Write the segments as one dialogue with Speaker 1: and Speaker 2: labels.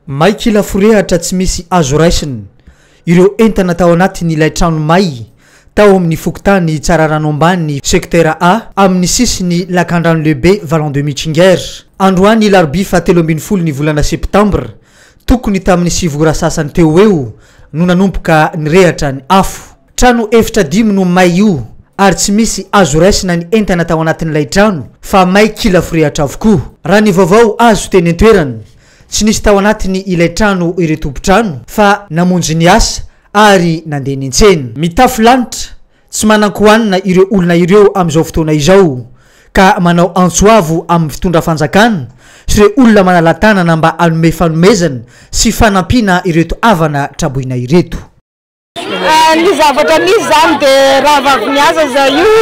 Speaker 1: May kila forehatra tsy misy azo raisina Ireo entana tao anatin'ilay trano may tao amin'ny fokontany Tsararano Ambany, sektera A, amin'ny sisin'ny Lakandrano Lehibe Vallon de Michinger. Androany larobia fahatelo ambin'ny folo ny volana septambra, tokony tamin'ny sivy ora sasany teo ho eo, no nanomboka nirehatra ny afo. Trano efitra dimy no may io, ary tsy misy azo raisina ny entana tao anatin'ilay trano fa may kila forehatra avokoa, raha ny vaovao azo teny an-toerana. Tsy nisy tao anatiny ilay trano ireo tompon-trano fa namonjy ny asa ary nandeha niantsena. Mitafy lanitra, tsy manan-kohanina ireo olona ireo amin'izao fotoana izao ka manao antso avo amin'ny fitondra fanjakana sy ireo olona manala-tanana mba hanome fanomezana sy fanampiana ireto havana traboina ireto.
Speaker 2: Ny zavatra misy izany dia raha vavy miasa za io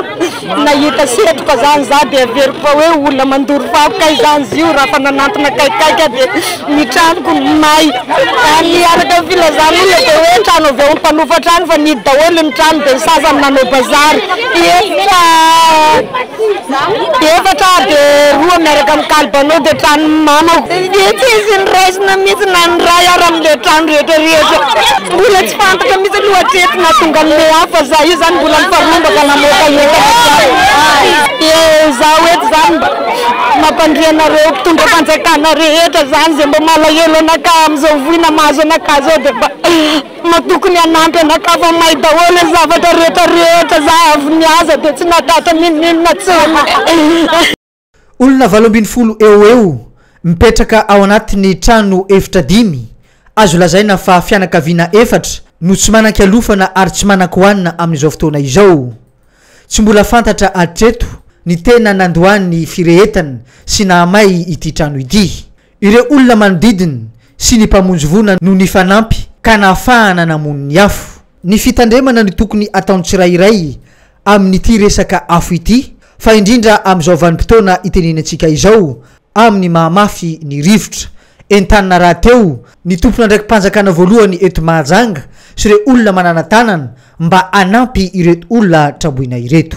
Speaker 2: nahita setroka izany za dia averiko fa hoe olona mandoro fako kay izany izy io raha efa nanantona akaikikaiky aho dia ny tranoko no may. Ary araka ny filazan'olona dia hoe trano avy ao mpanofa trano fa nihidy daholo ny trano dia ny sasany nanao bazary. Efa. Efatra de roa miaraka am kalbanao de tranony mamako de tsisy ny raisina mitsy na ny ray ara am le trano rehetra rehetra mbola tsy fantatra mitsy aloha hatreto nahatonga anle hafa za io zany mbola mifarombaka namoaka entana de zaho eto zany mba mampandria anareo mpitondra fanjakana rehetra zany ze mba malahelo anakahy amzao voina mahazo anakahy zao de mba. Mba tokony hanampy anakava may daholo ny zavatra rehetra rehetra za avy niaza de tsy natata ninoninona tsony.
Speaker 1: Olona valo ambin'ny folo eo ho eo mipetraka ao anatin'ny trano efitra dimy, azo lazaina fa fianakaviana efatra, no tsy manan-kialofana ary tsy manan-kohanina amin'izao fotoana izao. Tsy mbola fantatra hatreto ny tena nandoany ny firehetana sy nahamay ity trano ity. Ireo olona manodidiny sy ny mpamonjy voina no nifanampy ka nahafahana namono ny afo. Ny fitandremana no tokony ataon'ny tsirairay amin'ity resaka afo ity fa indrindra amin'izao vanim-potoana itenenintsika izao amin'ny maha mafy ny rivotra. Entanina rahateo ny tompon'andraiki-panjakana voalohany eto Mahajanga sy ireo olona manana-tanana mba hanampy ireto olona tramboina ireto.